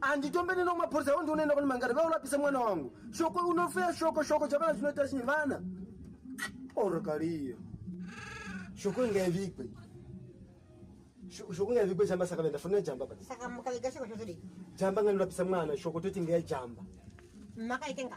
handitombe neno mapurisa iwo ndionoenda kune mangari vaulapisa mwana wangu shoko unofeya shoko shoko chavana chinoita chinyi vana orokariyo shoko ingaivikwe shoko ingaivikwe jamba saka vaenda fonera jamba pa jamba ngandirapisa mwana shoko toti ngeya jamba makaitenga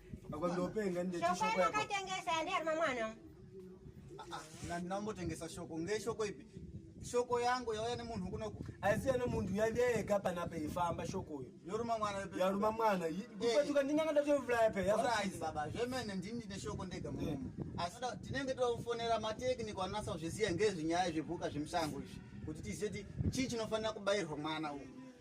Akondopenga ndeti shoko yako. Akatengesa yandi ari mamwana. Ah, ah, na ndambotengesa shoko. Nge shoko ipi? Shoko yangu yauya nemunhu kuno. Asiya no munhu yandeka pana pa ifamba shoko yo. Yoruma mwana yepe. Yaruma mwana. Kupatuka eh. ndinganga ndatovula yepe. Yasaizi baba. Zvemene ndini ndine shoko ndega mumu. Eh. Asi tinenge tofonera ma technical anasa zviziya ngezvinyaya zvebuka zvemusango izvi. Kuti tizeti chii chinofanira kubairwa mwana uyu.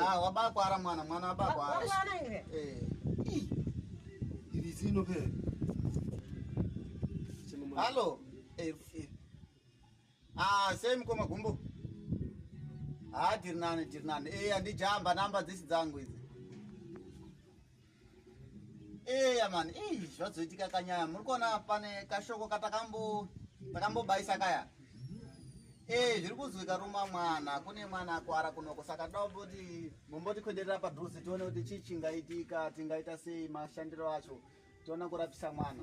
Ah, wabakwara mwana mwana wabakwara eh. iri zino pe hallo eh, eh. ah, sei mukoma gumbo ha ah, tiri nani tiri nani e andijamba namba dzisi dzangu idzi eya mani ii zvazoitika kanyaya muri kuona pane kashoko katakambo takambobaisa kaya ee zviri kuzwika ruma mwana kune mwana akwara kunoko saka toda kuti mombotikwederera padhuze tione kuti chii chingaitika tingaita sei mashandiro acho tiona kurapisa mwana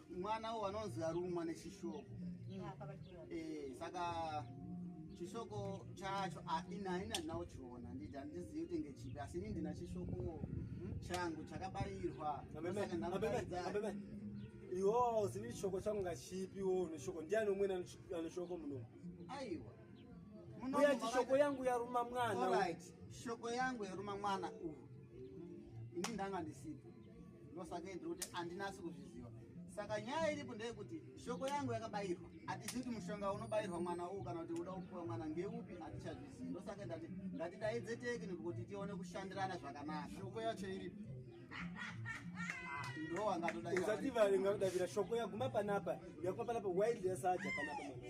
mwana uwo anonzi arumwa nechishoko eh, saka chishoko chacho ah, ini haina ndinawo chiona handiti handizivi kuti ngechipi asi ini ndina chishoko hmm, changu chakabarirwa iwo uzivi chishoko changu ngachipi wo neshoko ndiani umweni anoshoko muno aiwa uya chishoko yangu yaruma mwana shoko yangu yaruma mwana uhu ini ndanga ndisipo ndosaka ndiri kuti andinasi kuzviziva saka nyaya iripo ndeyekuti shoko yangu yakabayirwa hatizivi kuti mushonga unobayirwa mwana uwu kana kuti uda kupiwa mwana ngeupi hatichazvizivi ndosaka ndati ngatidaidze tekniko kuti tione kushandirana zvakanaka shoko yacho iripi ndowangatodaiusativaringakudavira shoko yaguma panapa yakuma panapa wildesa aja panapa mwana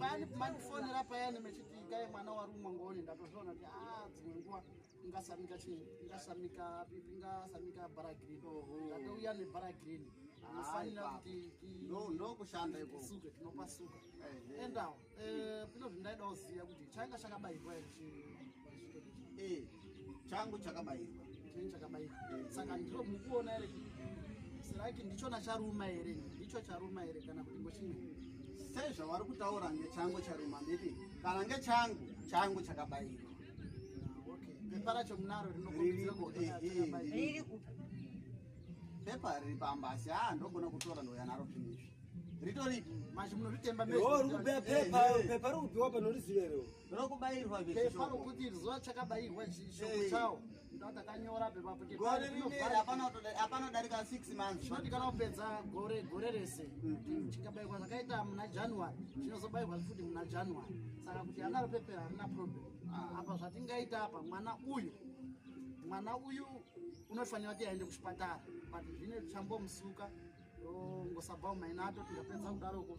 paani kumandifonera payani mechiti ikai mwana warumwa ngoni ndatozviona kuti a dzimwe nguva ingasamika chii ingasamika pipi ingasamika bara green ndatouya nebara green inofanira kuti ndokushanda ikosuke tinopasuka endawo eh, pino zvindaidawo ziya kuti chainga chakabairwa here chii eh changu chakabairwa chini chakabairwa saka ndiro mukuona ere siraki ndichona charuma here ndicho charuma here kana kuti ngochimwe sei zvavari kutaura ngechangu charuma nditi kana ngechangu changu chakabairwa pepa racho munaro rinopepa riri pamba asi a ah, ndogona kutora ndouya naro finishi ritori machi munoritemba rikupiwa panorizivero Ndokubairwa izvi Pepa shoko. rokuti iri zuva chakabairwa izvi shoko Eh. chawo. Ndo takanyora pepa kuti Gore pari rineri zvinovhara. hapana kutoda- hapana kudarika 6 months. Chinoti kana kupedza gore gore rese chikabairwa zvakaita muna January chinozobairwa futi muna January. Saka kuti anaro pepe harina problem. Apa zvatingaita apa mwana uyu mwana uyu unofanira kuti aende kuchipatara but zvine chambomusuka ngosabva umaina ato tikapedza kudaroko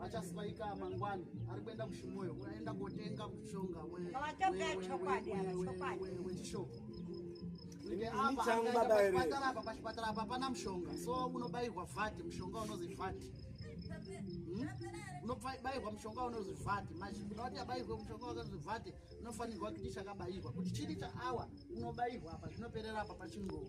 achasvaika mangwani ari kuenda kushimoyo unaenda kotenga mushonga wechishoko pachipatara apa pachipatara apa pana mushonga so unobairwa vhati mushonga unozi vhati hmm? unobairwa mushonga unozi vhati mazvikuda kuti abairwe mushonga wakazi vhati unofanirwa kuti chakabairwa kuti chiri chaawa unobairwa apa zvinoperera apa pachingowa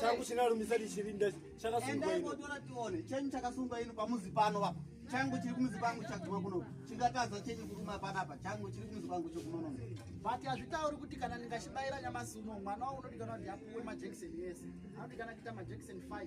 changu chinarumisa ndichirinda chakasungwaendaigotoratione chenyu chakasungwa ino pamuzi pano apa changu chiri kumuzi kwangu chaguma kuno chingatadza chenyu kuruma panapa changu chiri kumuzi kwangu chokunonono but hazvitauri kuti kana ndingachibayira nyamasi uno mwana wao unodikana kuti apuwe majekiseni yese anodikana kuita majekiseni 5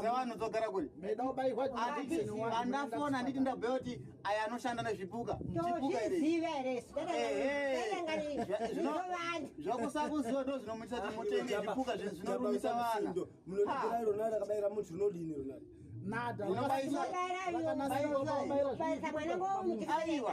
dzevanodzogara kuri andafona anditi ndabhuya kuti aya anoshanda nezvipuka zvakusakuziva ndo zvinomuitisa kuti mutenge zvipuka zvinorumisa vana nada unobaisa mwana ngo muchikaiwa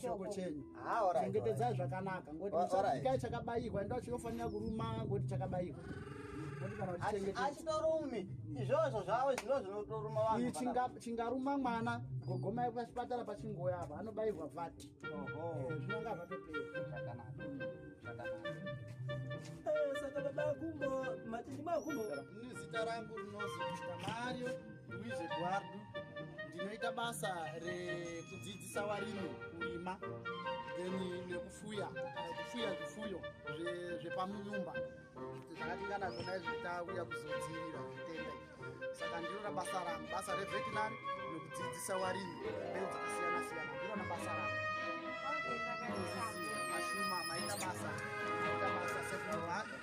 shoko chenyu ah, chengetedzai zvakanaka ngoti musakai chakabayirwa ndo chinofanira kuruma ngoti chakabayirwa achitorumi izvozvo zvavo zvino zvinotoruma vanhu chingaruma mwana gogomai pachipatara pachingoya apa anobayirwa vati eh, zvinonga zvatopera eh, saka baba kumbo matindi makumbo nezita rangu rinozi mario Luis Eduardo ndinoita basa rekudzidzisa varimi kurima then nekufuya kufuya zvifuyo zvepamunyumba zvakatingana zvona izvi tauya kuzodzivirira zvitenda saka ndinona basa rangu basa revetinary nekudzidzisa varimi mbeu dzakasiyana siyana ndinona basa rangu mashuma maita basa maita basa sefuaa